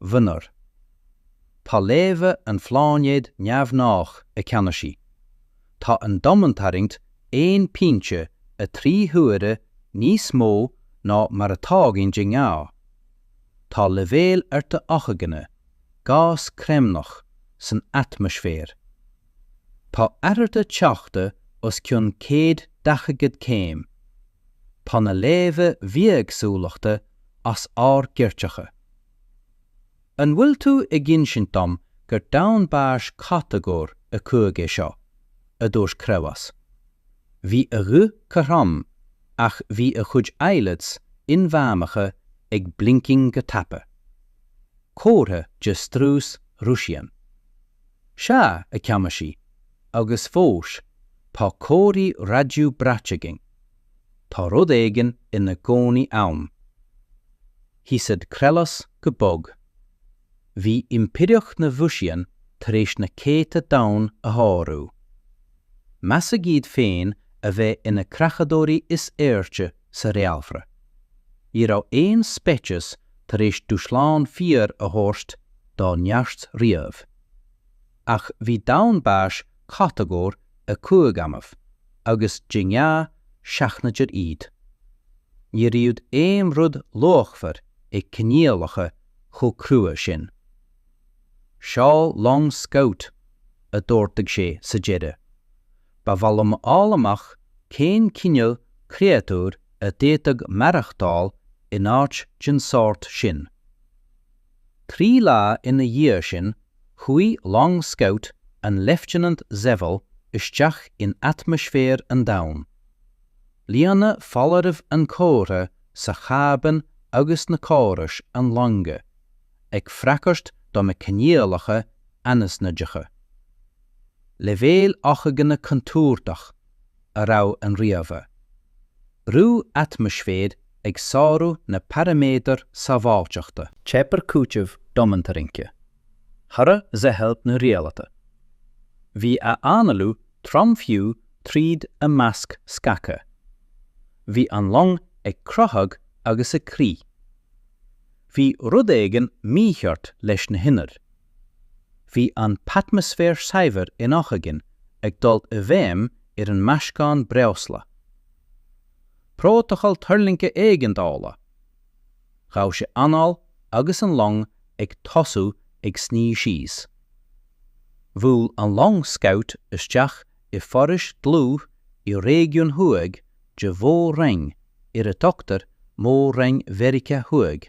Mhionúr. Tá léamha an phláinéid neamhghnách, a Cheannasaí. Tá an domhantarraingt aon phointe a trí huaire níos mó ná mar atá againn de ghnáth. Tá leibhéil arda ocsaigine, gás creimneach, san atmaisféar. Tá athruithe teochta os cionn céad daichead céim. Tá na léamha bithéagsúlachta as ár gcairteacha. An bhfuil tú ag insint dom gur domhan báis catagóir 5 é seo? a dúirt Creabhás. Bhí a ghuth cothrom ach bhí a chuid eyelids inmheánacha ag blinking go tapa. Comhartha de strus Rúisian. Sea, a Cheannasaí, agus fós tá comharthaí raidió braite againn. Tá rud éigin ina gcónaí ann. Hisaid Krelos go bog. Bhí Impireacht na Mhusian tar éis na céadta domhan a shárú. Meas siad féin a bheith ina creachadóirí is airde sa réaltra. Ní raibh aon speiceas tar éis dúshlán fíor a thabhairt dá neart riamh. Ach bhí domhan báis catagóir 5 annamh agus de ghnáth sheachnaíodar iad. Ní raibh aon rud luachmhar ag coinníollacha chomh crua sin. Seol long Scout, a d'ordaigh sé sa deireadh. Ba mhaith liom a fháil amach cén cineál créatúr a d'fhéadfadh maireachtáil in áit den sórt sin. Trí lá ina dhiaidh sin, chuaigh long scout an Leifteanant Szewal isteach in atmaisféar an domhain. Líonadh foláirimh an chomhartha sa chábán agus na córais an loinge ag freagairt do na coinníollacha anaithnide. Leibhéal ocsaigine contúirteach. a rabhaigh an ríomhaire, brú atmaisféir ag sárú na paraiméadar sábháilteachta. Theip ar chúiteamh domhantarraingthe, throid Szewal na rialata. Bhí a análú trom fiú tríd a masc scagtha. Bhí an long ag croitheadh agus ag crith. Bhí rud éigin mícheart leis na hinnill. Bhí an t-atmaisféar saibhir in ocsaigin ag dul i bhfeidhm ar an meascán breosla. Prótacal tuirlingthe éigeandála! Ghabh sé anáil agus an long ag tosú ag sníomh síos. Bhuail an long Scout isteach i bhforaois dlúth i réigiún thuaidh de Mhór-Roinn ar a dtugtar Mór-Roinn Mheiriceá Thuaidh.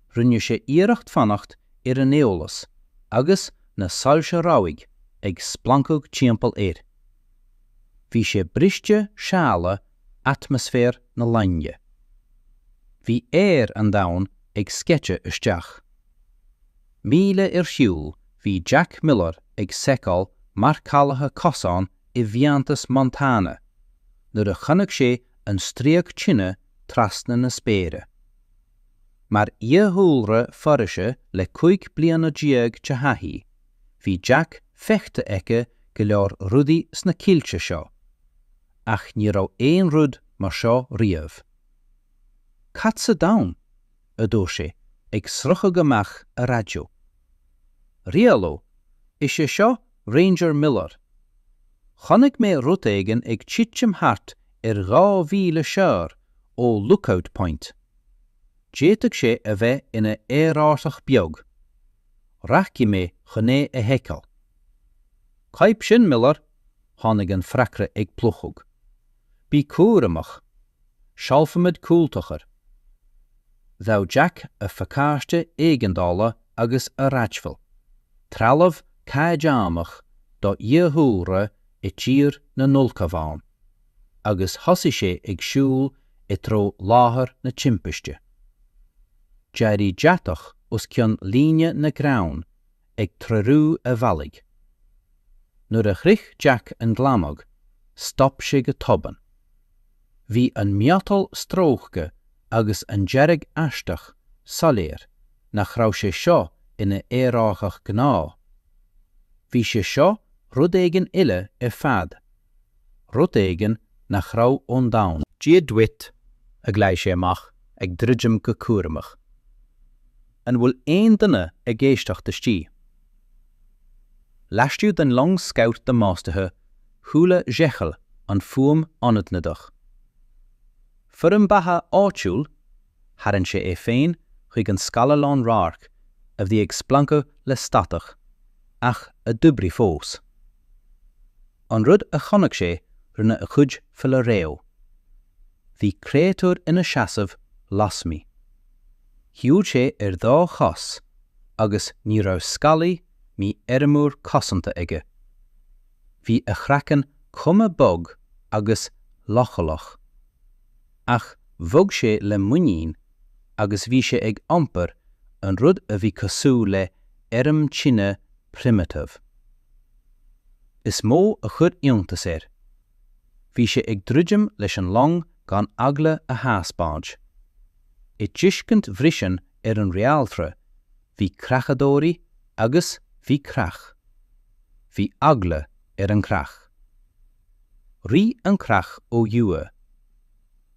Rinne sé iarracht fanacht ar an eolas agus na soilse rabhaidh ag splancadh timpeall air. Bhí sé briste séala atmaisféar na loinge. Bhí aer an domhain ag sceiteadh isteach. Míle ar shiúl bhí Jack Miller ag seiceáil marcálaithe cosán i bhfiántas Montana nuair a chonaic sé an stríoc tine trasna na spéire. Mar fhiadhúlra Foraoise le cúig bliana déag de thaithí, bhí Jack feicthe aici go leor rudaí sna coillte seo, ach ní raibh aon rud mar seo riamh. 'Cad sa domhan? a dúirt sé, ag sroicheadh amach a raidió. 'Rialú, is é seo Ranger Miller. Chonaic mé rud éigin ag titim thart ar dhá mhíle siar ó Lookout Point. D'fhéadfadh sé a bheith ina aerárthach beag. Rachaidh mé chun é a sheiceáil. Cóip sin, Miller! Tháinig an freagra ag plúchadh. Bí cúramach. Seolfaimid cúltaca. Ghabh Jack a phacáiste éigeandála agus a raidhfil. Trealamh caighdeánach do fhiadhúlra i tír na n-ulchabhán. Agus thosaigh sé ag siúl i dtreo láthair na timpiste. D'éirigh deatach os cionn líne na gcrann ag treorú a bhealaigh. Nuair a shroich Jack an glanadh, stop sé go tobann. Bhí an miotal stróicthe agus an dearadh aisteach soiléir nach raibh sé seo ina aerárthach gnáth. Bhí sé seo rud éigin eile ar fad. Rud éigin nach raibh ón domhan. 'Dia duit, a ghlaoigh sé amach, ag druidim go cúramach. 'An bhfuil aon duine ag éisteacht istigh? Laistigh den long scabhta damáistithe chuala Zhechel an fuaim ionadnadach. Foirm beatha áitiúil? Tharraing sé é féin chuig an scáileán radhairc a bhí ag splancadh le statach. ach a d'oibrigh fós. An rud a chonaic sé rinne a chuid fola reo. Bhí créatúr ina seasamh lasmuigh. Shiúil sé ar dhá chos agus ní raibh scálaí ná armúr cosanta aige. Bhí a chraiceann cuma bog agus leochaileach. Ach bhog sé le muinín agus bhí sé ag iompar an rud a bhí cosúil le airm tine primitive. Is mó a chuir iontas air. Bhí sé ag druidim leis an long gan eagla a thaispeáint. I dtuiscint Vrisean ar an Réaltra, bhí creachadóirí agus bhí creach. Bhí eagla ar an chreach. Rith an chreach uathu.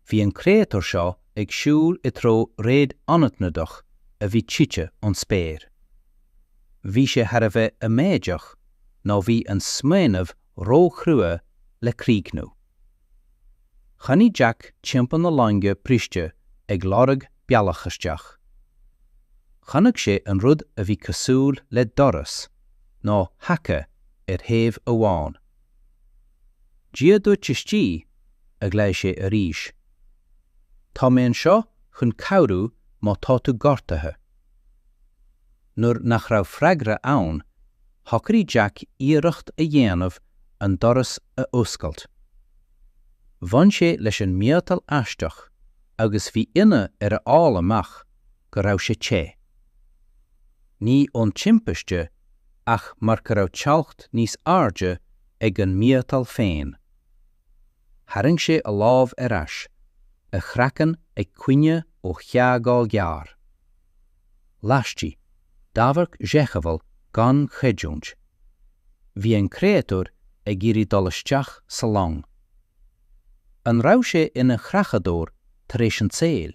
Bhí an créatúr seo ag siúl i dtreo réad anaithnidach a bhí tite ón spéir. Bhí sé thar a bheith amaideach nó bhí an smaoineamh róchrua le críochnú. Chuaigh Jack timpeall na loinge briste ag lorg bealach isteach. Chonaic sé an rud a bhí cosúil le doras, nó haca, ar thaobh amháin. Dia duit istigh, a ghlaigh sé arís. Tá mé anseo chun cabhrú má tá tú gortaithe. Nuair nach raibh freagra ann, shocraigh Jack iarracht a dhéanamh an doras a oscailt. Bhain sé leis an miotal aisteach agus bhí ionadh air a fháil amach go raibh sé te. Ní ón timpiste ach mar go raibh teocht níos airde ag an miotal féin. Tharraing sé a lámh ar ais, a chraiceann ag coinne ó theagmháil ghearr. Laistigh d'amharc Zhekhevel gan chreidiúint. Bhí an créatúr ag iarraidh dul isteach sa long. An raibh sé ina chreachadóir tar éis an tsaoil?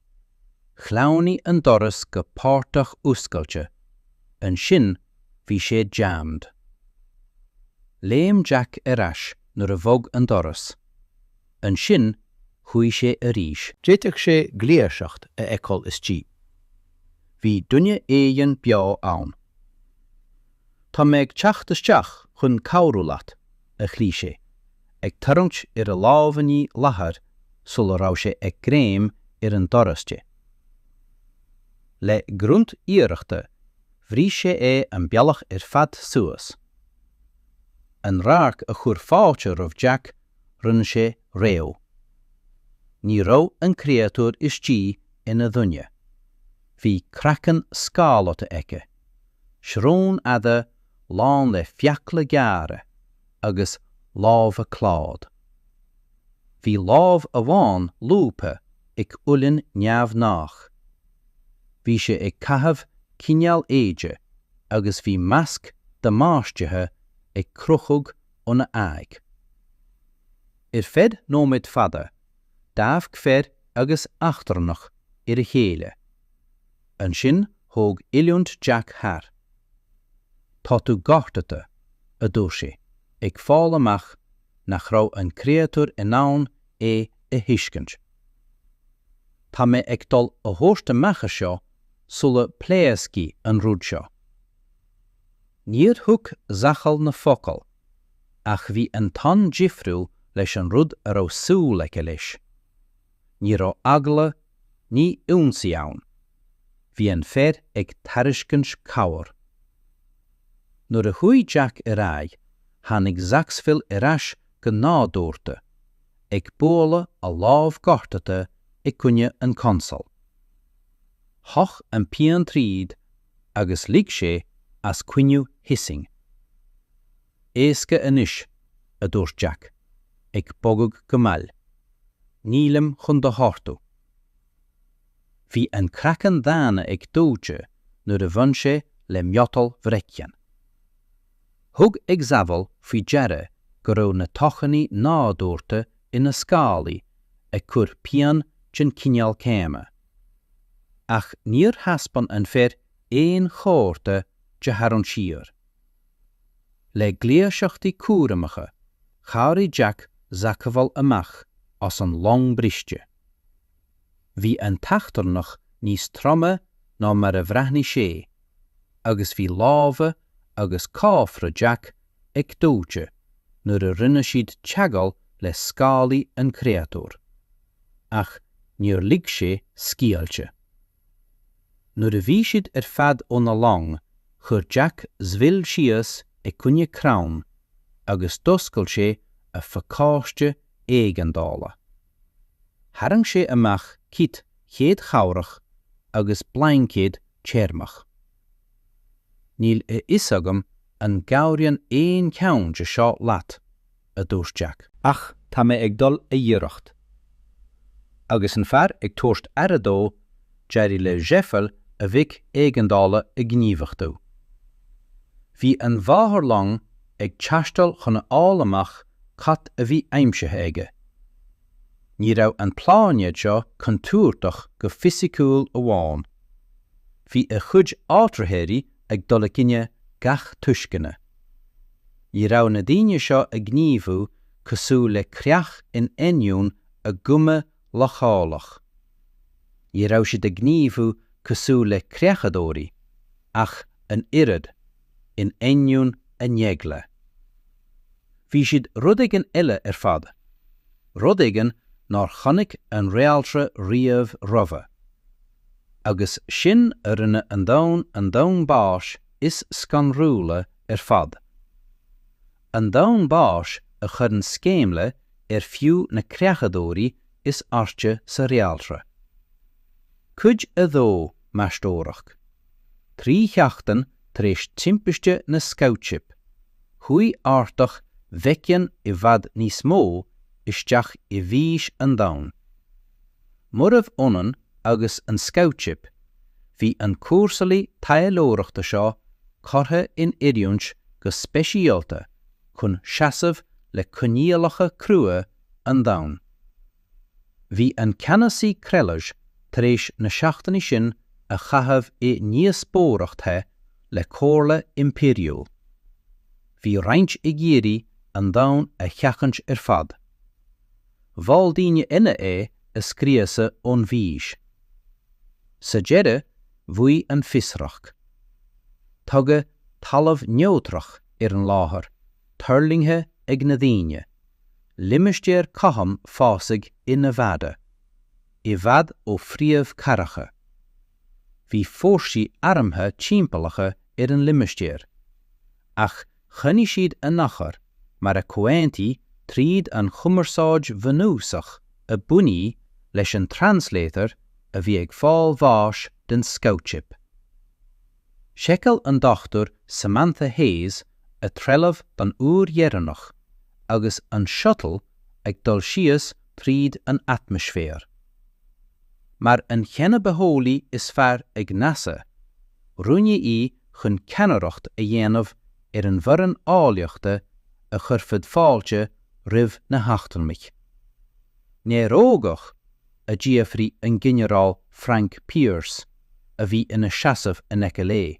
Shleamhnaigh an doras go páirteach oscailte, ansin bhí sé jammed. Léim Jack ar ais nuair a bhog an doras, ansin chuaigh sé arís. D'fhéadfadh sé gluaiseacht a fheiceáil istigh. Bhí duine éigin beo ann. Tá mé ag teacht isteach chun cabhrú leat, a ghlaoigh sé, ag tarraingt ar a lámhainní leathair sula raibh sé ag greim ar an doras te. Le grunt iarrachta bhrúigh sé é an bealach ar fad suas. An radharc a chuir fáilte roimh Jack rinne sé réidh. Ní raibh an créatúr istigh ina dhuine. Bhí craiceann scáláta aici, srón fhada lán le fiacla gearra agus lámha cláid. Bhí lámh amháin lúbtha ag uillinn neamhghnách. Bhí sé ag caitheamh cineál éide agus bhí masc damáistithe ag crochadh óna aghaidh. Ar feadh nóiméad fada, d'amharc fear agus eachtrannach ar a chéile. Ansin thóg oiliúint Jack thar. 'Tá tú gortaithe, a dúirt sé, ag fáil amach nach raibh an créatúr in ann é a thuiscint. 'Tá mé ag dul a thabhairt amach as seo sula bpléascfaidh an rud seo. Níor thuig Zachal na focail, ach bhí an ton difriúil leis an rud a raibh súil aige leis. Ní raibh eagla ná ionsaí ann. Bhí an fear ag tairiscint cabhair. Nuair a chuaigh Jack ar aghaidh, tháinig Zacksville ar ais go nádúrtha, ag bualadh a lámh gortaithe i gcoinne an chonsóil. Shoch an pian tríd agus lig sé as caoineadh hissing. Éasca anois, a dúirt Jack, ag bogadh go mall. Nílim chun do ghortú. Bhí an craiceann daonna ag dóite nuair a bhain sé le miotal vrection. Thug Ixabel faoi deara go raibh na tocsainí nádúrtha ina scálaí ag cur pian den chineál céanna, ach níor thaispeáin an fear aon chomhartha de tharraingt siar. Le gluaiseachtaí cúramacha, chabhraigh Jack Zacamhail amach as an long briste. Bhí an t-eachtrannach níos troime ná mar a bhreathnaigh sé, agus bhí lámha agus cófra Jack ag dóite nuair a rinne siad teagháil le scálaí an chréatúir. Ach níor lig sé scaoilte. Nuair a bhí siad ar fad ón long, chuir Jack Zwil síos i gcoinne crann agus d'oscail sé a phacáiste éigeandála. Tharraing sé amach cit chéad chabhrach agus blaincéad teirmeach. Níl a fhios agam an gcabhraíonn aon cheann de seo leat, a dúirt Jack. Ach tá mé ag dul a iarracht. Agus an fear ag tabhairt aire dó, d'éirigh le Jeffery a bheacon éigeandála a ghníomhachtú. Bhí an mháthair long ag teastáil chun a fháil amach cad a bhí aimsithe aige. Ní raibh an pláinéad seo contúirteach go fisiciúil amháin. Bhí a chuid áitritheoirí ag dul i gcoinne gach tuisceana. Ní raibh na daoine seo ag gníomhú cosúil le creach in ainneoin a gcuma leochaileach. Ní raibh siad ag gníomhú cosúil le creachadóirí, ach an oiread, in ainneoin a n-eagla. Bhí siad rud éigin eile ar fad. Rud éigin nár chonaic an réaltra riamh roimhe. Agus sin a rinne an domhan, an domhan báis is scanrúla ar fad. An domhan báis a chuireann sceimhle ar fiú na creachadóirí is airde sa réaltra. Cuid a Dó, Meastóireacht. Trí sheachtain tar éis timpiste na Scout Ship, chuaigh ártach Vecyan i bhfad níos mó isteach i bhfithis an domhain. Murarbh ionann agus an Scout Ship, bhí an cúrsálaí taidhleoireachta seo curtha in oiriúint go speisialta chun seasamh le coinníollacha crua an domhain. Bhí an Ceannasaí Krelage tar éis na seachtainí sin a chaitheamh i ndíospóireacht the le Comhairle Impiriúil. Bhí roinnt ag iarraidh an domhan a sheachaint ar fad. Mhol daoine eile é a scriosadh ón bhfithis. Sa deireadh, bhuaigh an fiosracht. Tugadh talamh neodrach ar an láthair tuirlingthe ag na daoine, limistéar cothrom fásaigh i Nevada, i bhfad ó phríomhchathracha. Bhí fórsaí armtha timpeallaithe ar an limistéar, ach Choinnigh siad a n-achar mar a comhaontaíodh tríd an chumarsáid bhunúsach a bunaíodh leis an translator a bhí ag fáil bháis den scout ship. Sheiceáil an Dr Samantha Hayes a trealamh don uair dheireanach agus an shuttle ag dul síos tríd an atmaisféar. mar an xenobitheolaí is fearr ag NASA, roghnaíodh í chun ceannaireacht a dhéanamh ar an bhfoireann eolaíochta a chuirfeadh fáilte roimh na heachtrannaigh. Néarógach? a d'fhiafraigh an Ginearál Frank Pierce, a bhí ina sheasamh in aice léi.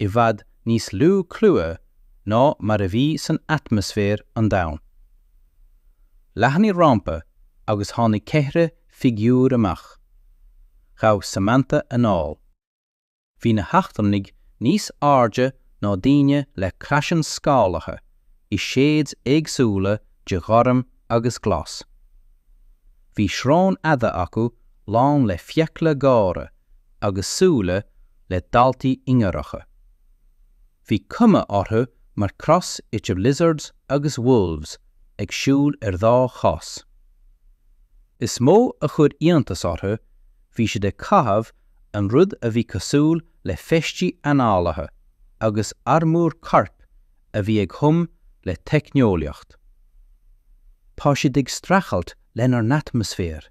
i bhfad níos lú clúmhaigh ná mar a bhí san atmaisféar an domhain. Leathnaigh rampa agus tháinig ceithre figiúr amach. Ghabh Samantha anáil. Bhí na heachtrannaigh níos airde ná daoine le craiceann scálaithe i séid éagsúla de ghorm agus ghlas. Bhí srón fhada acu lán le fiacla géara agus súile le daltaí ingearacha. Bhí cuma orthu mar cross idir lizards agus wolves ag siúl ar dhá chos. Is mó a chuir iontas orthu, bhí siad ag caitheamh an rud a bhí cosúil le feistí análaithe agus armúr coirp a bhí ag hum le teicneolaíocht. Tá siad ag streachailt lenár n-atmaisféar!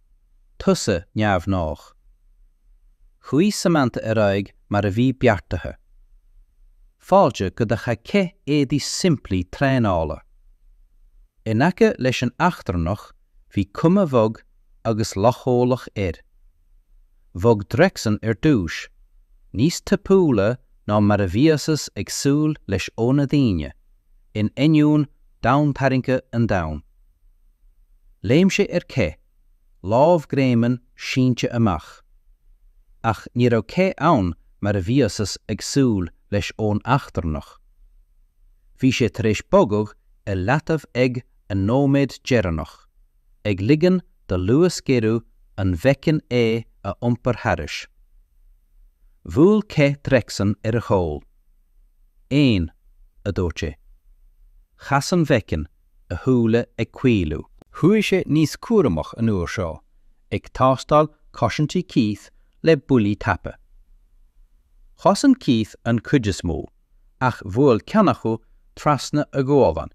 Tusa neamhghnách. Chuaigh Samantha ar aghaidh mar a bhí beartaithe. Fáilte go dtí. Chaith Keith éadaí simplí traenála. In aice leis an eachtrannach bhí cuma bhog agus leochaileach air. Bhog Drexen ar dtús, níos tapúla ná mar a bhíothas ag súil leis óna daoine, in ainneoin domhantarraingthe an domhain. Léim sé ar Keith, lámh greimeann sínte amach. Ach ní raibh Keith ann mar a bhíothas ag súil leis ón eachtrannach. Bhí sé tar éis bogadh i leataobh ag an nóiméad deireanach, ag ligean do luasghéarú an mheicin é a iompar thairis. Bhuail Keith Drexen ar a chúl. Aon, a dúirt sé. Chas an mheicin. a shúile ag caolú. Chuaigh sé níos cúramach an uair seo, ag tástáil cosaintí Keith le buillí tapa. Chosain Keith an chuid is mó, ach bhuail ceann acu trasna a ghualainn,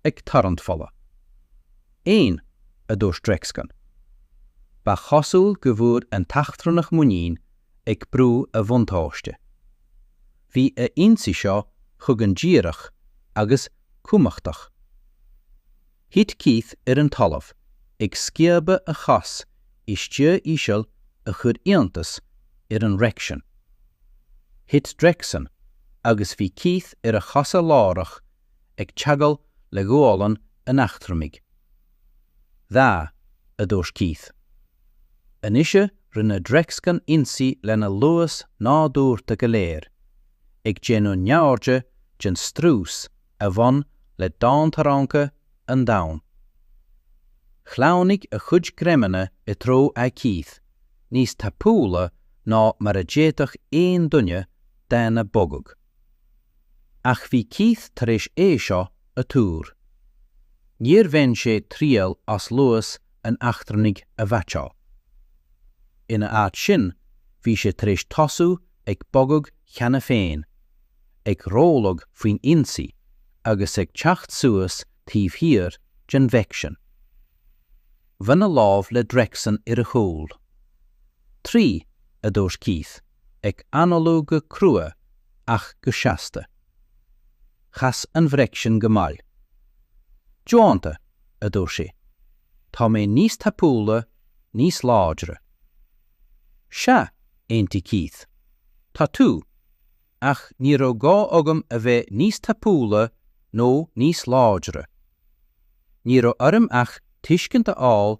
ag tarraingt fola. Aon, a dúirt Drexen. Ba chosúil go bhfuair an t-eachtrannach muinín, ag brú a bhuntáiste. Bhí a ionsaí seo chugainn díreach agus cumhachtach. Thit Keith ar an talamh, ag sciobadh a chos i stua íseal a chuir iontas ar an Rection. Thit Drexen agus bhí Keith ar a chosa láithreach ag teagmháil le gualainn an eachtrannaigh. 'Dhá' a dúirt Keith. Anois rinne Drexen ionsaí lena luas nádúrta go léir, ag déanamh neamhaird den strús a bhain le domhantarraingthe an domhain. Shleamhnaigh a chuid greimeanna i dtreo aghaidh Keith, níos tapúla ná mar a d'fhéadfadh aon duine daonna bogadh. Ach bhí Keith tar éis é seo a tuar. Níor bhain sé triail as luas an eachtrannaigh a mheaitseáil. Ina áit sin, bhí sé tar éis tosú ag bogadh cheana féin, ag rabhladh faoin ionsaí agus ag teacht suas taobh thiar den Bhreicsean. Bhuail a lámh le Drexen ar a chúl. Trí, a dúirt Keith. ag análú go crua ach go seasta. Chas an Bhreicsean go mall. 'Déanta! a dúirt sé. 'Tá mé níos tapúla, níos láidre. 'Sea! aontaigh Keith. 'Tá tú. Ach ní raibh gá agam a bheith níos tapúla nó níos láidre. Ní raibh orm ach tuiscint a fháil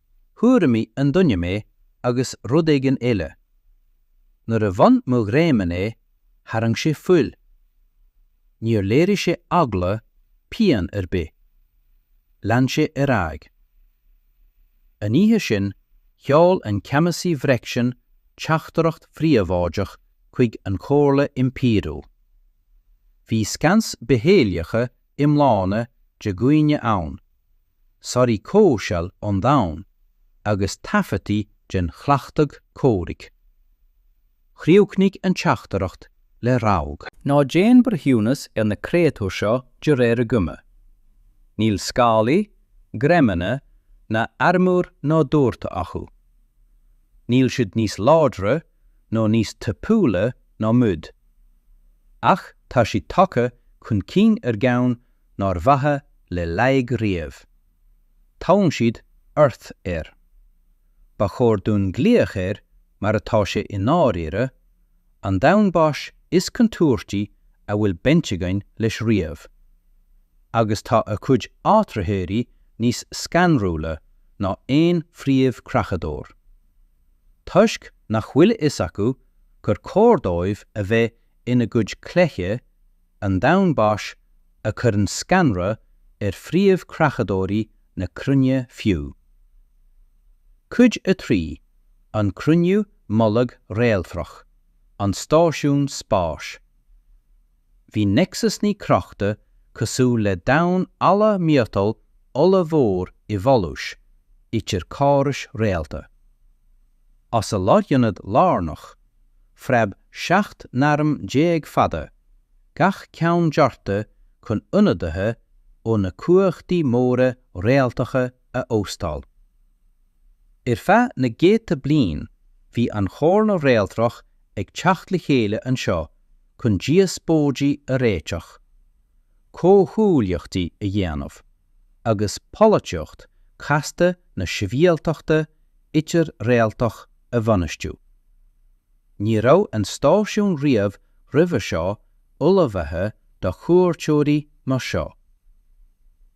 Thug an duine mé agus rud éigin eile. Nuair a bhain mo ghreamán é, tharraing sé fuil. Níor léirigh sé eagla pian ar bith. Lean sé ar aghaidh. An oíche sin, sheol an Ceannasaí Bhreicsean teachtaireacht phríobháideach chuig an Chomhairle Impiriúil. Bhí scans bitheolaíocha iomlána de dhaoine ann, sonraí comhshaoil an domhain, agus taifeadtaí den chleachtadh comhraic. Chríochnaigh an teachtaireacht le rabhadh. Ná déan breithiúnas ar na créatúir seo de réir a gcuma. Níl scálaí, greimeanna, ná armúr nádúrta acu. Níl siad níos láidre nó níos tapúla ná muid. Ach tá siad tagtha chun cinn ar gceann nár bhraith laige riamh. Tugann siad ort air. Ba chóir dúinn glaoch air mar atá sé i ndáiríre, an domhan báis is contúirtí a bhfuil baint againn leis riamh. Agus tá a cuid áitritheoirí níos scanrúla ná aon phríomh-creachadóir. Toisc nach bhfuil a fhios acu gur cóir dóibh a bheith ina gcuid cluiche an domhain báis a chuireann scanradh ar phríomh-creachadóirí na cruinne fiú. Cuid 3, An Cruinniú Mullaigh Réaltrach, An Stáisiún Spáis. Bhí Nexus Naoi crochta cosúil le damhan alla miotail ollmhór i bhfolús idir córais réalta. As a lárionad lárnach, phreab seacht n-arm déag fada, gach ceann dearta chun ionadaithe ó na cumhachtaí móra réaltacha a óstáil. Ar feadh na gcéadta bliain, bhí an Chomhairle Réaltrach ag teacht le chéile anseo chun díospóidí a réiteach, comhghuaillíochtaí a dhéanamh, agus polaitíocht chasta na sibhialtachta idir-réaltach a bhainistiú. Ní raibh an stáisiún riamh roimhe seo ullmhaithe do chuairteoirí mar seo.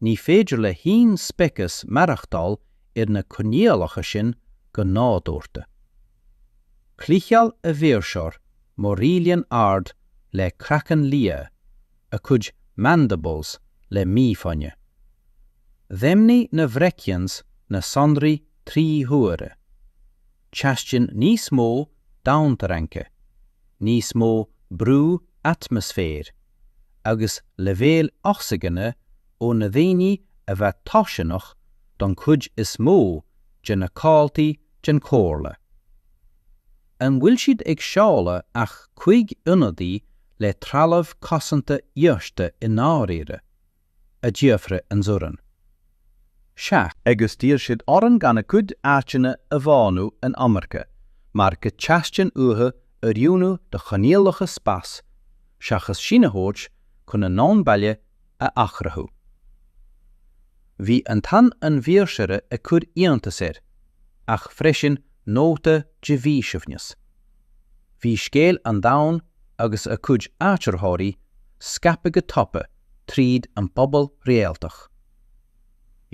Ní féidir le haon speiceas maireachtáil ar na coinníollacha sin go nádúrta. Chliceáil a mhaoirseoir Maurylian ard le craiceann liath, a cuid mandibles le mífhoighne. Dheimhnigh na Vrechians na sonraí trí huaire. Teastaíonn níos mó domhantarraingthe, níos mó brú atmaisféir. agus leibhéil ocsaigine ó na daoine a bheith tocsaineach don chuid is mó de na comhaltaí den Chomhairle. An bhfuil siad ag seoladh ach cúig ionadaí le trealamh cosanta íosta i ndáiríre? a d'fhiafraigh Zoran. Sea. Agus d'iarr siad orainn gan a gcuid áiteanna a bhánú in iomarca mar go teastaíonn uathu oiriúnú do choinníollacha spáis seachas sinn a thabhairt chun a ndomhan baile a athchruthú. Bhí ton an mhaoirseora ag cur iontas air, ach freisin nóta de mhíshuaimhneas. Bhí scéal an domhain agus a cuid áitritheoirí scaipthe go tapa tríd an bpobal réaltach.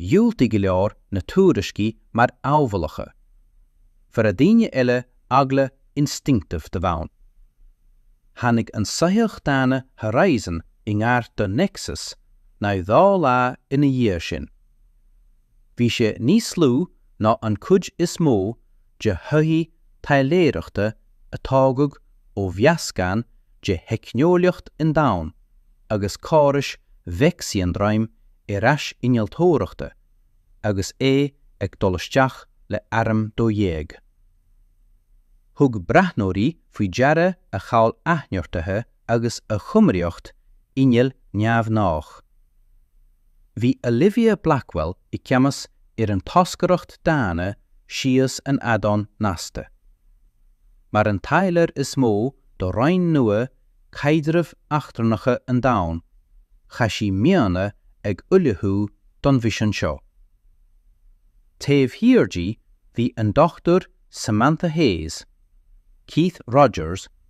Dhiúltaigh go leor na tuairiscí mar áibhéalacha. Fuair daoine eile eagla instinctive de bhonn. Tháinig an soitheach daonna Horizon i ngar do Nexus naoi dhá lá ina dhiaidh sin. bhí sé níos lú ná an chuid is mó de shoithí taidhleoireachta a tógadh ó mheascán de theicneolaíocht an domhain agus córais mheicsindroim ar ais innealtóireachta agus é ag dul isteach le arm dó dhéag. Thug breathnóirí faoi deara a chabhail athneartaithe, agus a chumraíocht innill neamhghnách. Bhí Olivia Blackwell i gceannas ar an toscaireacht daonna síos an fheadán nasctha. Mar an taidhleoir is mó do roinn nua caidrimh eachtrannacha an domhain, chaith sí míonna ag ullmhú don mhisean seo. Taobh thiar di bhí an Dr Samantha Hayes, Keith Rogers,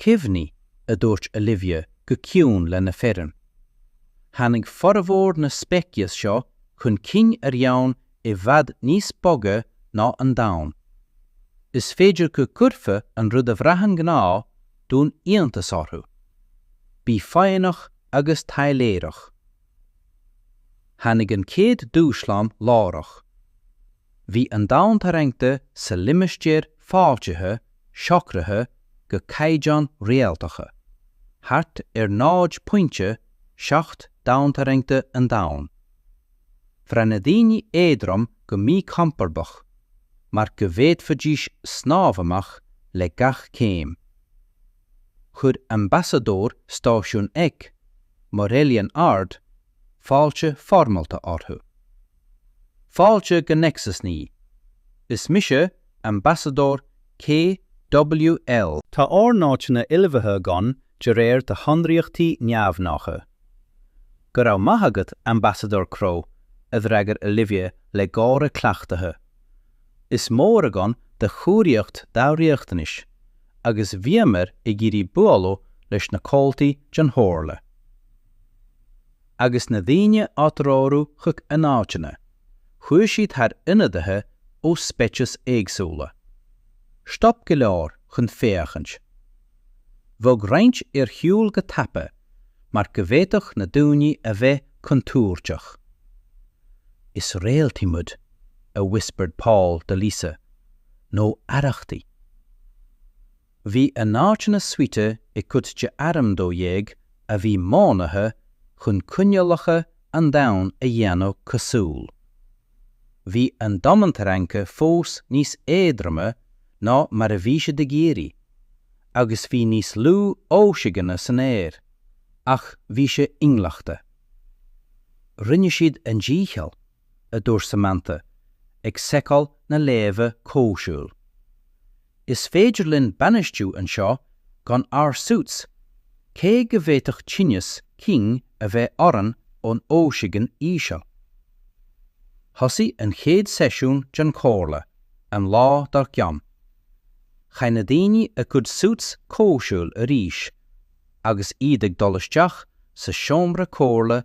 'Cuimhnigh, a dúirt Olivia go ciúin lena foireann. 'Tháinig formhór na speiceas seo chun cinn ar dhomhan i bhfad níos boige ná an Domhan. Is féidir go gcuirfeadh an rud a bhraitheann gnáth dúinn iontas orthu. Bígí foighneach agus taidhleoireach. Tháinig an chéad dúshlán láithreach. Bhí an domhantarraingt sa limistéar fáiltithe socraithe go caighdeáin réaltacha, thart ar 0.7 domhantarraingt an Domhain. Bhraith na daoine éadrom go míchompordach, mar go bhféadfaidís snámh amach le gach céim. Chuir ambasadóir an stáisiúin, Morelian Ard, fáilte foirmeálta orthu. Fáilte go Nexus Naoi, Is mise Ambasadóir KWL. Tá ár n-áiteanna ullmhaithe againn de réir do shonraíochtaí neamhghnácha. Go raibh maith agat, Ambasadóir Crow, a d'fhreagair Olivia le gáire cleachtaithe. Is mór againn do chóiríocht dár riachtanais, agus bhíomar ag iarraidh bualadh leis na comhaltaí den Chomhairle. Agus na daoine á dtreorú chuig a n-áiteanna, chuaigh siad thar ionadaithe ó speicis éagsúla. Stop go leor chun féachaint. Bhog roinnt ar shiúl go tapa mar go bhféadfadh na daoine a bheith contúirteach. Is réaltaí muid, a whispered Paul do Lisa, nó arrachtaí. Bhí a n-áiteanna suite i gcuid de Arm 12 a bhí modhnaithe chun coinníollacha an domhain a dhéanamh cosúil. Bhí an domhantarraingt fós níos éadroime ná mar a bhí siad ag iarraidh, agus bhí níos lú ocsaigine san aer, ach bhí sé inghlachta. Rinne siad a ndícheall. a dúirt Samantha, ag seiceáil na léamha comhshaoil. Is féidir linn bainistiú anseo gan ár suits, cé go bhféadfadh tinneas cinn a bheith orainn ón ocsaigin íseal. Thosaigh an chéad seisiún den chomhairle an lá dár gcionn. Chaith na daoine a gcuid suits comhshaoil arís agus iad ag dul isteach sa seomra comhairle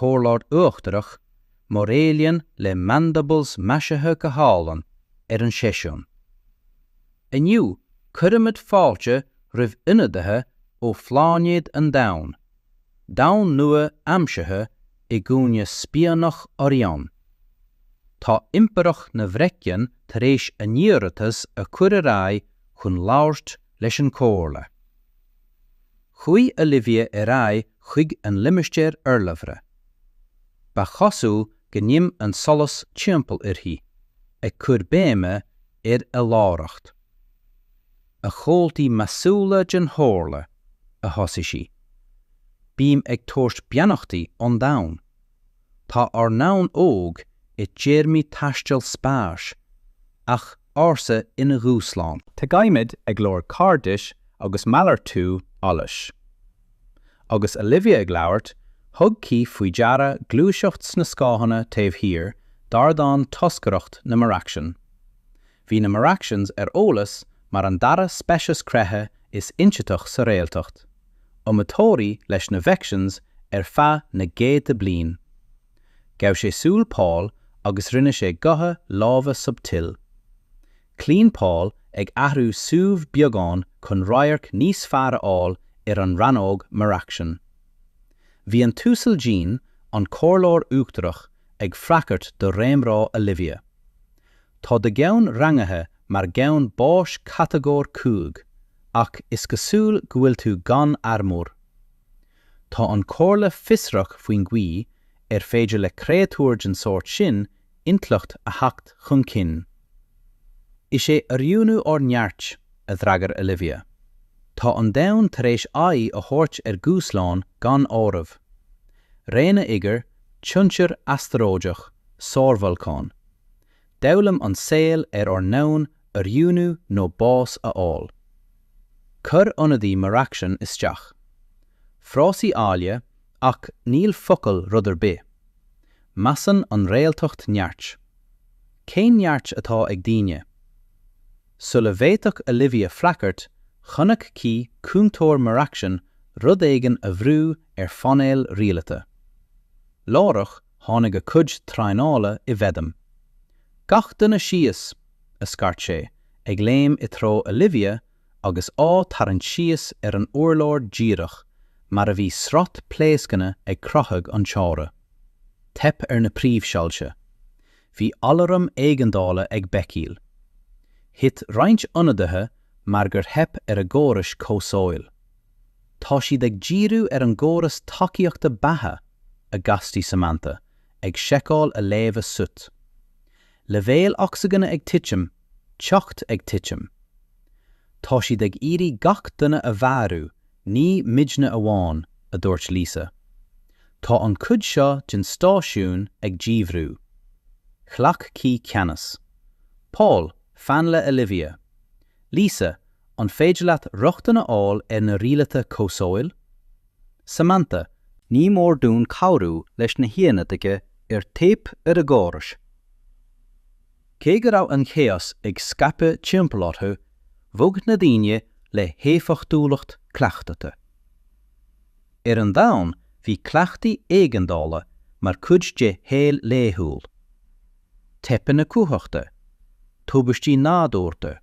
Comhairleoir Uachtarach, mar ealaíon le mandibles maisithe go hálainn, ar an seisiún. Inniu, cuirimid fáilte roimh ionadaithe ó phláinéad an Domhain, domhan nua aimsithe i gcúinne spíonach Orion. Tá Impireacht na bhFreicsean tar éis a n-iarratas a chur ar aghaidh chun labhairt leis an Chomhairle. Chuaigh Olivia ar aghaidh chuig an limistéar urlabhra. Ba chosúil go n-im an solas timpeall uirthi, ag cur béime ar a láithreacht. A chomhaltaí measúla den Chomhairle a thosaigh sí. Bím ag tabhairt beannachtaí an domhain. Tá ár ndomhan óg i dtéarmaí taistil spáis, ach ársa ina dhúshlán. Tagaimid ag lorg cairdis agus malartú eolais. Agus Olivia ag labhairt, thug Keith faoi deara gluaiseacht sna scáthanna taobh thiar d'ardán toscaireacht na Maraxian. Bhí na Maraxians ar eolas mar an dara speiceas creiche is ionsaithí sa réaltra, iomaitheoirí leis na Vexians ar feadh na gcéadta bliain. Ghabh sé súil Paul agus rinne sé gotha láimhe subtil. Cloíonn Paul ag athrú suímh beagán chun radharc níos fearr a fháil ar an rannóg Maraxian. Bhí an tUasal Jean, an Comhairleoir Uachtarach, ag freagairt do réamhrá Olivia. Tá do dhomhan rangaithe mar dhomhan báis catagóir 5, ach is cosúil go bhfuil tú gan armúr. Tá an Chomhairle fiosrach faoin gcaoi ar féidir le créatúir den sórt sin intleacht a theacht chun cinn. Is é oiriúnú ár neart, a d'fhreagair Olivia. Tá an domhan tar éis aghaidh a thabhairt ar dhúshláin gan áireamh. Réanna oighir, tionchar astaróideach, sárbholcáin. D'fhoghlaim an saol ar ár ndomhan oiriúnú nó bás a fháil. Chuir ionadaí Maraxian isteach. Frásaí áille, ach níl focail rud ar bith. Measann an réaltra neart. Cén neart atá ag daoine? Sula bhféadfadh Olivia freagairt, chonaic Keith cúntóir Maraxian rud éigin a bhrú ar phainéal rialata. Láithreach, tháinig a cuid traenála i bhfeidhm. 'Gach duine síos! a scairt sé, ag léim i dtreo Olivia agus á tarraingt síos ar an urlár díreach mar a bhí sraith pléascanna ag croitheadh an tseomra. Theip ar na príomhshoilse. Bhí alaram éigeandála ag béicíl. Thit roinnt ionadaithe mar gur theip ar a gcórais comhshaoil. Tá siad ag díriú ar an gcóras tacaíochta beatha, a ghasp Samantha, ag seiceáil a léamha suit. Leibhéil ocsaigine ag titim, teocht ag titim. Tá siad ag iarraidh gach duine a mharú, ní muidne amháin, a dúirt Lisa. Tá an chuid seo den stáisiún ag díbhrú. Ghlac Keith ceannas. Paul, fan le Olivia. Lisa, an féidir leat rochtain a fháil ar na rialtáin comhshaoil? Samantha, ní mór dúinn cabhrú leis na hionadaithe ar theip ar a gcórais. Cé go raibh an chaos ag scaipeadh timpeall orthu, bhog na daoine le héifeachtúlacht cleachtaithe. Ar an domhan bhí cleachtaí éigeandála mar chuid de shaol laethúil. teipeanna cumhachta, tubaistí nádúrta,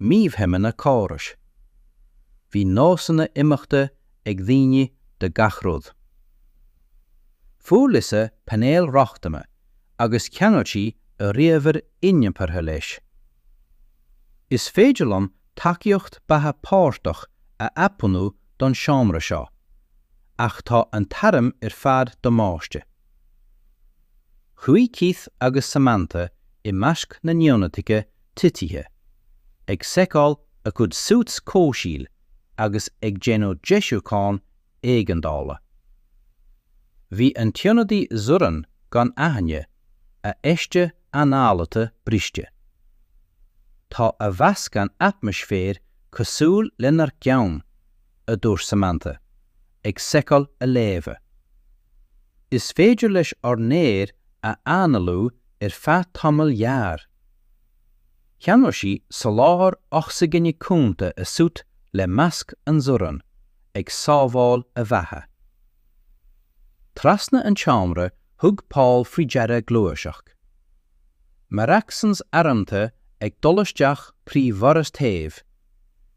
mífheidhmeanna córais. Bhí nósanna imeachta ag daoine do gach rud. Fuair Lisa painéal rochtana agus cheangail sí a ríomhaire iniompartha leis. Is féidir liom tacaíocht beatha páirteach a athbhunú don seomra seo, ach tá an t-arm ar fad damáiste. Chuaigh Keith agus Samantha i measc na n-ionadaithe titithe, ag seiceáil a gcuid suits comhshaoil agus ag déanamh deisiúcháin éigeandála. Bhí an t-ionadaí Zoran gan aithne, a fheiste análaithe briste. Tá a mheascán atmaisféir cosúil lenár gceann! a dúirt Samantha, ag seiceáil a léamha. Is féidir leis ár n-aer a análú ar feadh tamaill ghearr. Cheangail sí soláthar ocsaigine cúnta a suit le masc an Zoran, ag sábháil a bheatha. Trasna an tseomra thug Paul faoi deara gluaiseacht. Maracsans armtha ag dul isteach trí dhoras taobh.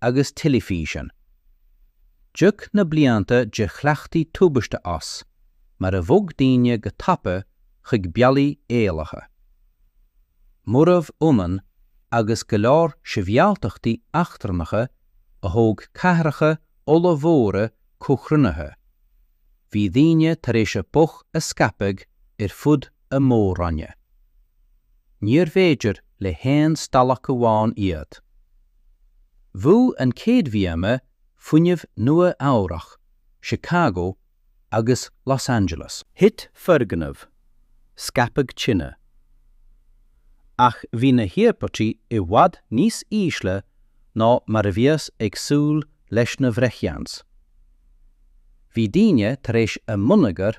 agus teilifísean. D'íoc na blianta de chleachtaí tubaiste as, mar a bhog daoine go tapa chuig bealaí éalaithe. Murarbh ionann agus go leor sibhialtachtaí eachtrannacha a thóg cathracha ollmhóra comhchruinnithe, bhí daoine tar éis a bpobal a scaipeadh ar fud an Mhór-Roinn. Níorbh fhéidir le haon stailc amháin iad. Bhuail an chéad bhíoma fuinnimh Nua-Eabhrac, Chicago agus Los Angeles. Thit foirgneamh, scaipeadh tine. Ach bhí na híospartaigh i bhfad níos ísle ná mar a bhíothas ag súil leis na bhreithiáins. Bhí daoine tar éis a mbonneagar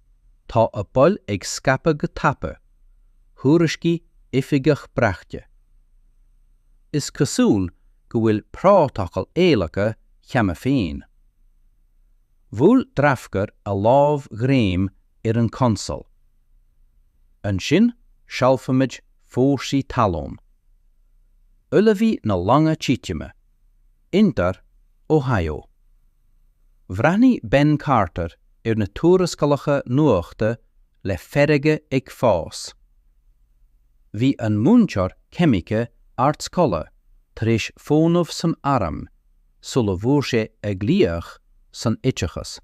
Tá a bpobal ag scaipeadh go tapa, thuairiscigh oifigeach braiteachta. Is cosúil go bhfuil prótacal éalaithe cheana féin. Bhuail Drafkar a lámhghreim ar an gconsól. Ansin seolfaimid fórsaí talún. Ullmhaigh na longa titime. Ceantar, Ohio. Bhreathnaigh Ben Carter ar na tuarascálacha nuachta le feirge ag fás. Bhí an múinteoir ceimice ardscoile tar éis fónamh san arm sula bhfuair sé a ghlaoch san oideachas.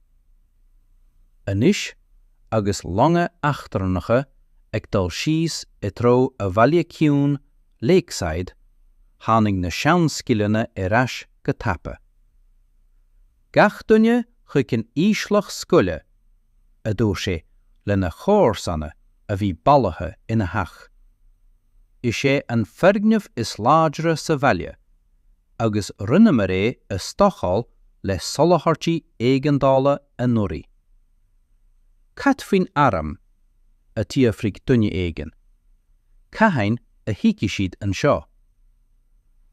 Anois agus longa eachtrannacha ag dul síos i dtreo a bhaile ciúin Lakeside, tháinig na seanscileanna ar ais go tapa. Gach duine chuig an íoslach scoile, a dúirt sé lena chomharsana a bhí bailithe ina theach. Is é an foirgneamh is láidre sa bhaile, agus rinneamar é a stocáil le soláthairtí éigeandála anuraidh. 'Cad faoin arm? a d'fhiafraigh duine éigin. 'Cathain a thiocfaidh siad anseo?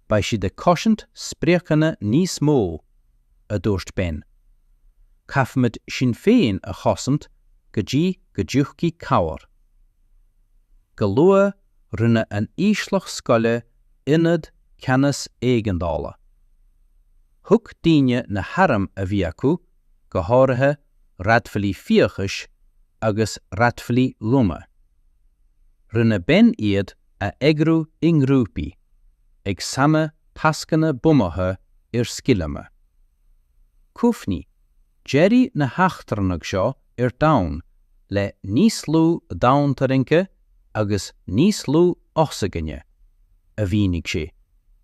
Beidh siad ag cosaint spriocanna níos mó, a dúirt Ben. 'Caithfimid sinn féin a chosaint go dtí go dtiocfaidh cabhair. Go luath rinneadh an íoslach scoile ionad ceannas éigeandála. Thug daoine na hairm a bhí acu go háirithe raidhfilí fiachais agus raidhfilí loma. Rinne Ben iad a eagrú i ngrúpaí, ag sannadh tascanna bunaithe ar scileanna. Cuimhnigh, d'éirigh na heachtrannaigh seo ar domhan le níos lú domhantarraingthe agus níos lú ocsaigine, a mhínigh sé,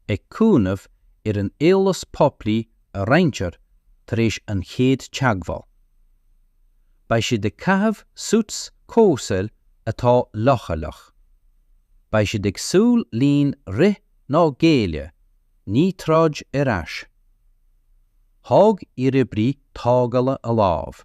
ag cuimhneamh ar an eolas poiblí a roinntear tar éis an chéad teagmháil. Beidh siad ag caitheamh suits comhshaoil atá leochaileach. Beidh siad ag súil linn rith nó géilleadh, ní troid ar ais. Thóg iaroibrí tógála a lámh.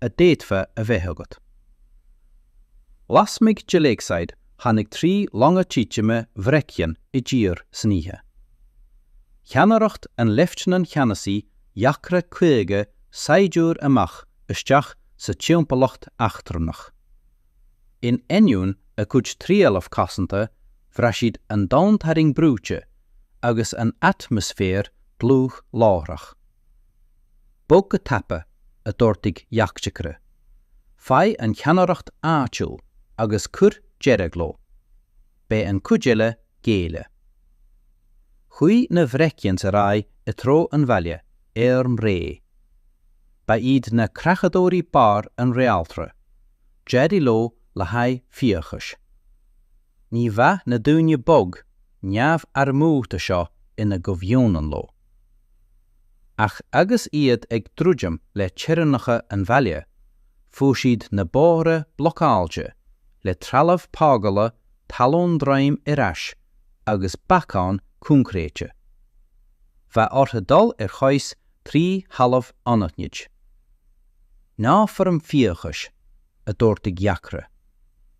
a d'fhéadfá a bheith agat. Lasmuigh de Lakeside tháinig trí longa titime Vreckian i dtír san oíche. Cheannaireacht an Leifteanant Cheannasaí dheacra 50 saighdiúir amach isteach sa timpeallacht eachtrannach. In ainneoin a gcuid trealaimh cosanta bhraith siad an domhantarraing brúite agus an atmaisféar dlúth láithreach. Bog go tapa, a d'ordaigh Yakhchikra. Faigh an cheannaireacht áitiúil agus cuir deireadh leo. Beidh an cuid eile géilleadh. Chuaigh na Vreckians ar aghaidh i dtreo an bhaile, airm réidh. Ba iad na creachadóirí barr an réaltra, d'éirigh leo le haghaidh fiachais. Ní bheadh na daoine bog neamharmúrtha seo ina gcomhionann leo. Ach agus iad ag druidim le teorainneacha an bhaile, fuair siad na bóithre blocáilte le trealamh tógála talún droim ar ais agus bacáin coincréite. Bheadh orthu dul ar chois trí thalamh anaithnid. Ná foirm fiachais, a dúirt de Ghiacre.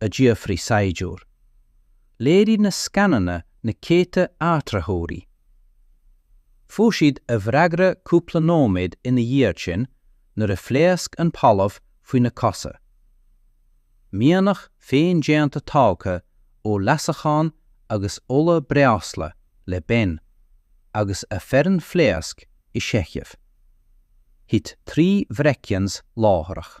a d'fhiafraigh saighdiúir. Léirigh na scananna na céadta áitritheoirí. Fuair siad a bhfreagra cúpla nóiméad ina dhiaidh sin nuair a phléasc an talamh faoina cosa. Mianaigh féin-déanta tógtha ó leasachán agus ola breosla le Ben agus a foireann phléasc i seicheamh. Thit trí Vreckians láithreach.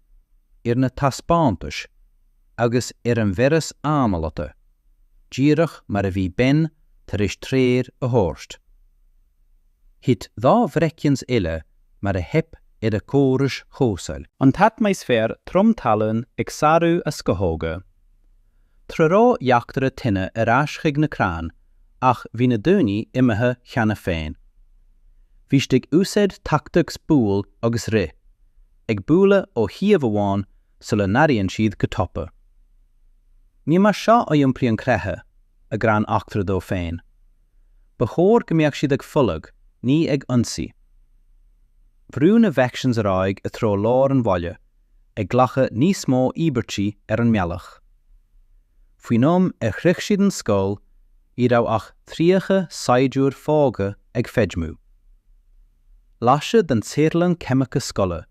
ar na taispeántais agus ar an bhfearas análaithe, díreach mar a bhí Ben tar éis treoir a thabhairt. Thit dhá Vreckian eile mar a theip ar a córais chomhshaoil. An t-atmaisféar trom talún ag sárú a scamhóga. Treoraigh eachtra tine ar ais chuig na crainn ach bhí na daoine imithe cheana féin. Bhí siad ag úsáid tactics buail agus rith. ag bualadh ó shuíomh amháin sula n-athraíonn siad go tapa. Ní mar seo a iompraíonn creiche a gcrann eachtra dó féin. Ba chóir go mbeadh siad ag folach, ní ag ionsaí. Bhrú na Vreckians ar aghaidh i dtreo lár an bhaile, ag glacadh níos mó íobairtí ar an mbealach. Faoin am ar shroich siad an scoil, ní raibh ach 30 saighdiúir fágtha ag feidhmiú. Laistigh den tsaotharlann ceimice scoile,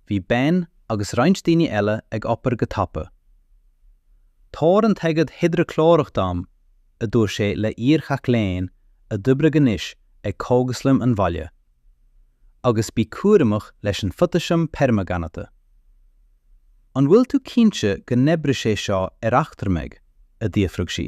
bhí Ben agus roinnt daoine eile ag obair go tapa. 'Tabhair an t-aigéad hidreaclórach dom, a dúirt sé le hiarmhac léinn a d'oibrigh anois ag cógaslann an bhaile. 'Agus bí cúramach leis an photaisiam permanganate. An bhfuil tú cinnte go n-oibreoidh sé seo ar eachtrannaigh? a d'fhiafraigh sí.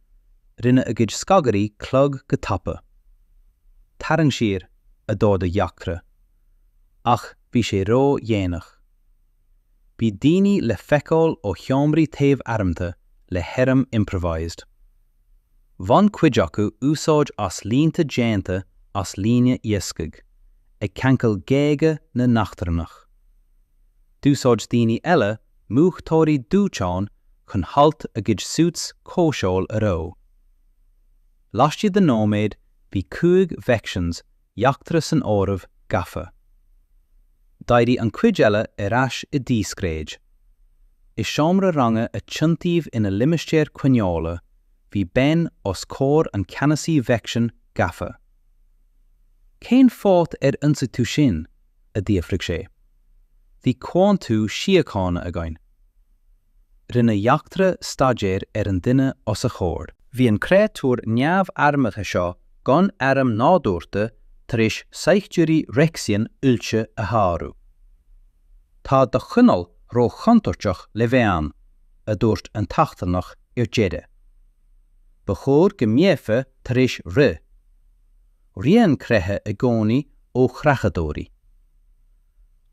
Rinne a gcuid scagairí clog go tapa. 'Tarraing siar, a d'ordaigh Jachtra. Ach bhí sé ródhéanach. Bhí daoine le feiceáil ó sheomraí taobh armtha le hairm improvised. Bhain cuid acu úsáid as líonta déanta as líne iascaigh, ag ceangal géaga na n-eachtrannach. D'úsáid daoine eile múchtóirí dóiteáin chun hailt a gcuid suits comhshaoil a reo. Laistigh de nóiméad bhí cúig Vexians Jachtra san áireamh gafa. D'éirigh an chuid eile ar ais i díscréid. I seomra ranga a tiontaíodh ina limistéar coinneála bhí Ben os comhair an Cheannasaí Vexian gafa. Cén fáth ar ionsaigh tú sinn? a d'fhiafraigh sé. Bhí comhaontú síochána againn. Rinne Jachtra staidéar ar an duine os a chomhair. Bhí an créatúr neamharmtha seo gan airm nádúrtha tar éis saighdiúirí Vexian oilte a shárú. Tá do chineál róchontúirteach le bheith ann, a dúirt an t-eachtrannach ar deireadh. Ba chóir go mbeifeá tar éis rith. Ritheann creiche i gcónaí ó chreachadóirí.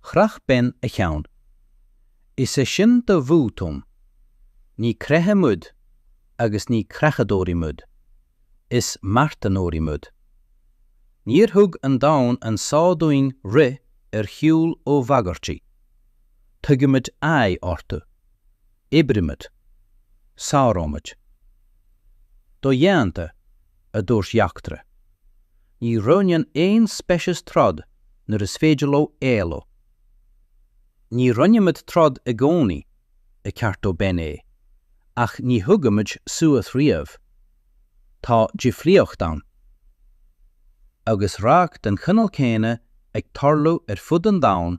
Chroith Ben a cheann. Is é sin do bhotún. Ní creiche muid agus ní creachadóirí muid. Is marthanóirí muid. Níor thug an domhan an só dúinn rith ar shiúl ó bhagairtí. Tugaimid aghaidh orthu. Oibrímid. Sáróimid. Dodhéanta. a dúirt Jachtra. Ní roghnaíonn aon speiceas troid nuair is féidir leo éalú. Ní roghnaímid troid i gcónaí, a cheartaigh Ben é, ach ní thugaimid suas riamh. Tá difríocht ann. Agus radharc den chineál céanna ag tarlú ar fud an domhain,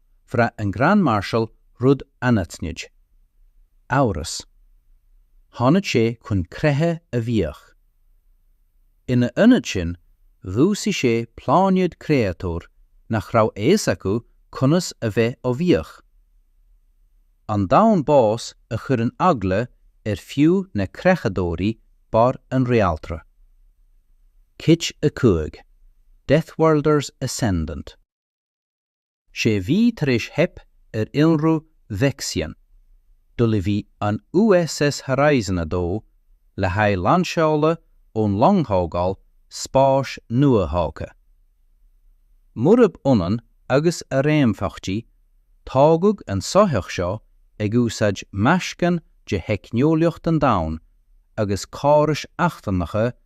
bhraith an Grand Marshal rud anaithnid. Amhras. Tháinig sé chun creiche a bhuachan. Ina ionad sin, dhúisigh sé pláinéad créatúr nach raibh a fhios acu conas a bheith á mbuachan. An domhan bás a chuireann eagla ar fiú na creachadóirí barr an réaltra. Cuid 5, Deathworlders Ascendant. Sé mhí tar éis theip ar ionradh Vexian, d'ullmhaigh an USS Horizon 2 le haghaidh lainseála ón longthógáil spáis nuathógtha. Murab ionann agus a réamhtheachtaí, tógadh an soitheach seo ag úsáid meascán de theicneolaíocht an Domhain agus córais eachtrannacha na.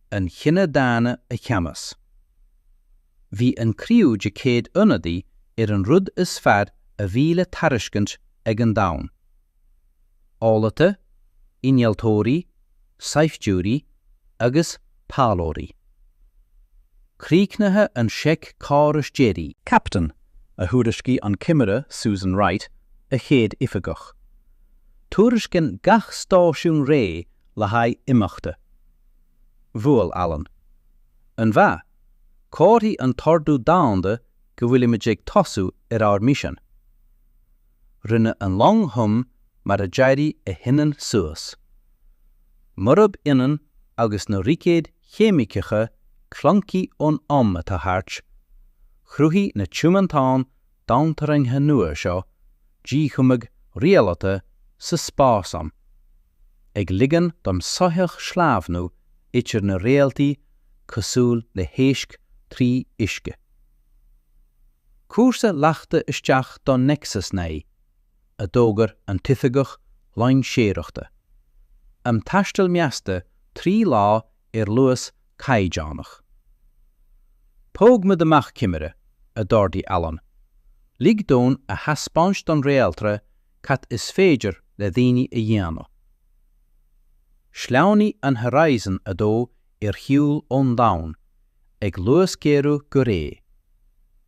an chine daonna a cheannach. Bhí an criú de 100 ionadaí ar an rud is fearr a bhí le tairiscint ag an domhan. Eolaithe, innealtóirí, saighdiúirí agus taidhleoirí. Críochnaithe an seic córais deiridh. Captain, a thuairiscigh an Cimire Susan Wright, a chéad oifigeach. Tuairiscíonn gach stáisiún réidh le haghaidh imeachta. Bhuail Alan. An-mhaith. Comharthaigh an t-ordú domhanda go bhfuilimid ag tosú ar ár misean. Rinne an long hum mar a d'éirigh a hinnill suas. Murab ionann agus na roicéid cheimiceacha clunky ón am atá thart, chruthaigh na tiomántáin domhantarraingthe nua seo díchumadh rialaithe sa spás-am, ag ligean don soitheach sleamhnú idir na réaltaí cosúil le héisc trí uisce. Cúrsa leagtha isteach do Nexus 9, a d'fhógair an t-oifigeach loingseoireachta, am taistil measta trí lá ar luas caighdeánach. 'Tóg muid amach Cimire, a d'ordaigh Alan. 'Lig dúinn a thaispeáint don réaltra cad is féidir le daoine a dhéanamh. Shleamhnaigh an Horizon 2 ar shiúl ón Domhan, ag luasghéarú go réidh.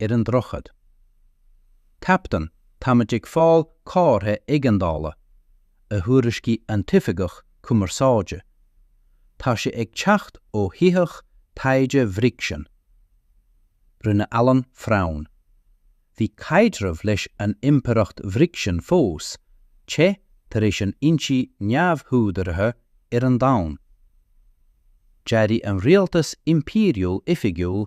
ar an droichead. Captain, táimid ag fáil comhartha éigeandála, a thuairiscigh an t-oifigeach cumarsáide. Tá sé ag teacht ó shoitheach taighde Bhrixen. Rinne Alan frown. Bhí caidreamh leis an Impireacht Bhrixen fós te tar éis an ionsaí neamhúdaraithe ar an Domhan. Dhearbhaigh an rialtas impiriúil oifigiúil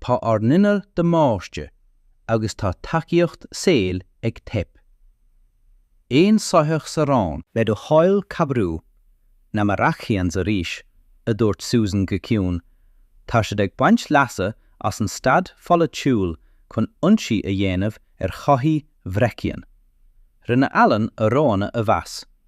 Tá ár n-innill damáiste agus tá tacaíocht saoil ag teip. Aon soitheach sa raon? Le do thoil cabhrú, Na Marrachiens arís, a dúirt Susan go ciúin. Tá siad ag baint leasa as an staid pholaitiúil chun ionsaí a dhéanamh ar shoithí Vechian. Rinne Alan a roghanna a mheas.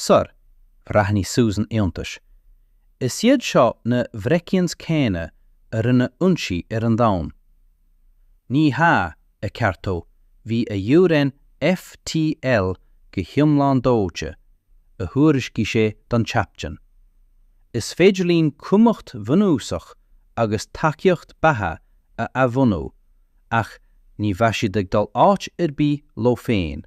Sir, bhreathnaigh Susan iontaisithe. Is iad seo na Vechians céanna a rinne ionsaí ar an domhan. Ní hea, a cheartaigh, bhí a fhioreann FTL go hiomlán dóite, a thuairiscigh sé don Chaptaen. Is féidir linn cumhacht bhunúsach agus tacaíocht beatha a athbhunú, ach ní bheidh siad ag dul áit ar bith leo féin.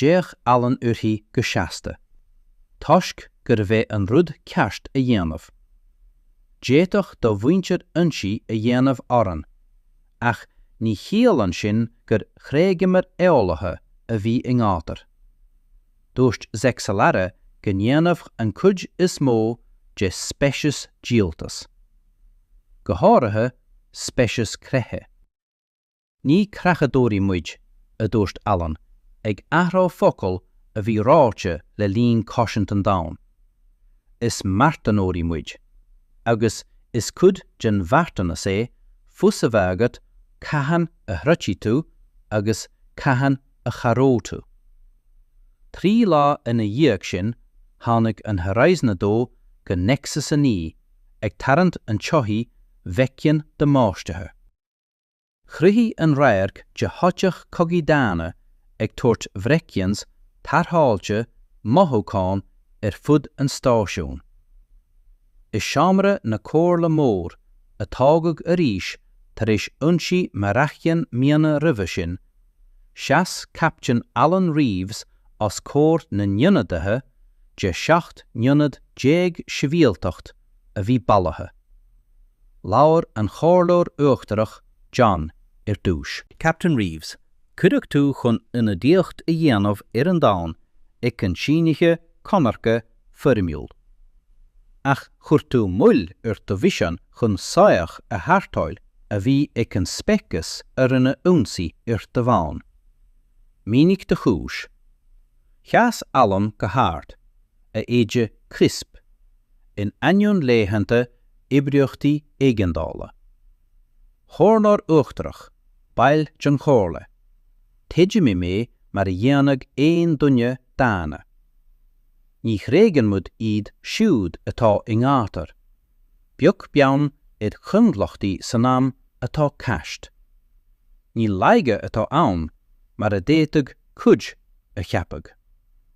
D'fhéach Alan uirthi go seasta, toisc gurbh é an rud ceart a dhéanamh. D'fhéadfadh do mhuintir ionsaí a dhéanamh orainn, ach ní chiallaíonn sin gur thréigeamar eolaithe a bhí i ngátar. Dúirt Zexelara go ndéanfadh an cuid is mó de speiceas díoltas, go háirithe speiceas creiche. 'Ní creachadóirí muid, a dúirt Alan, ag athrá focal a bhí ráite le linn cosaint an domhain. 'Is marthanóirí muid. Agus is cuid den mharthanas é fios a bheith agat cathain a throidfidh tú agus cathain a chabhróidh tú. Trí lá ina dhiaidh sin tháinig an Horizon 2 go Nexus 9, ag tarraingt an tsoithigh Vechian damáistithe. Chruthaigh an radharc de shoitheach cogaidh daonna ag tabhairt Vechians tarrtháilte mothúcháin ar fud an stáisiúin. I seomra na comhairle mór, a tógadh arís tar éis ionsaí Marrachien míonna roimhe sin, sheas Captaen Alan Reeves os comhair na n-ionadaithe de 17 nionad sibhialtacht, a bhí bailithe. Labhair an Chomhairleoir Uachtarach John ar dtús. Captain Reeves, cuireadh tú chun ionadaíocht a dhéanamh ar an domhan ag an síniú conartha foirmiúil. Ach chuir tú moill ar do mhisean chun soitheach a tharrtháil a bhí ag an speiceas a rinne ionsaí ar do dhomhan. Mínigh do chúis. Sheas Alan go hard, a éide crisp. in ainneoin laethanta oibríochtaí éigeandála. Chomhairleoir Uachtarach, baill den Chomhairle, chuidigh mé mar a dhéanfadh aon duine daonna. Ní thréigeann muid iad siúd atá i ngátar, beag beann ar choinbhleachtaí san am atá caite. Ní laige atá ann, mar a d'fhéadfadh cuid a cheapadh.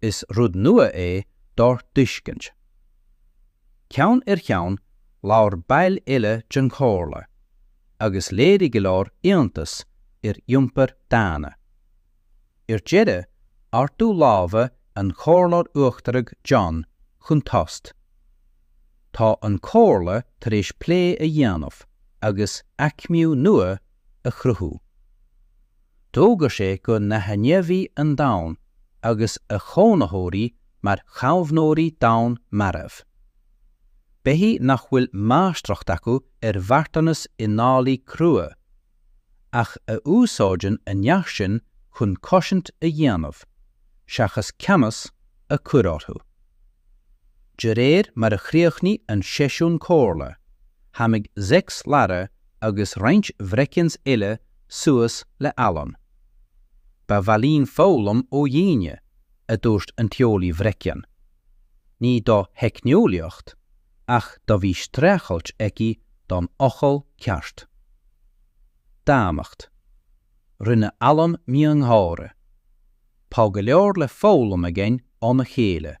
Is rud nua é dár dtuiscint. Ceann ar cheann, labhair baill eile den Chomhairle, agus léirigh go leor iontas ar iompar daonna. Ar deireadh, ardú láimhe an Chomhairleoir Uachtaraigh John chun tost. Tá an Chomhairle tar éis plé a dhéanamh agus aicmiú nua a chruthú. d'fhógair sé go n-aithneofaí an domhan agus a chónaitheoirí mar chaomhnóirí domhan marbh. Beithí nach bhfuil máistreacht acu ar mharthanas i ndálaí crua, ach a úsáideann a neart sin chun cosaint a dhéanamh, seachas ceannas a chur orthu. De réir mar a chríochnaigh an seisiún comhairle, tháinig Zex Lara agus roinnt bhreicians eile suas le Alan. Ba mhaith linn foghlaim ó dhaoine, a dúirt an t-eolaí bhreician. Ní do theicneolaíocht, ach do bhí streachailt aici don fhocal ceart. Daonnacht. Rinne Alan miongháire. Tá go leor le foghlaim againn óna chéile.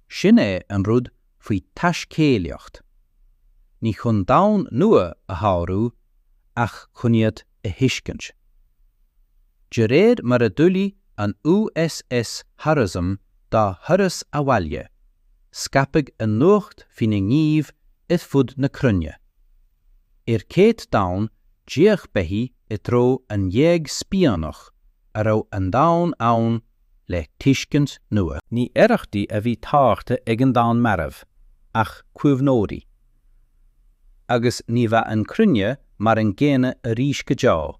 Sin é an rud faoi taiscéalaíocht, ní chun domhan nua a shárú ach chun iad a thuiscint. De réir mar a d'ullmhaigh an USS Horizon dá thuras abhaile, scaipeadh an nuacht faoina ngníomh ar fud na cruinne. Ar céad domhan d'fhéach beithí i dtreo an ghéag spíonach a raibh an domhan ann le tuiscint nua. Ní arrachtaí a bhí táirgthe ag an domhan marbh, ach caomhnóirí. Agus ní bheadh an chruinne mar an gcéanna arís go deo.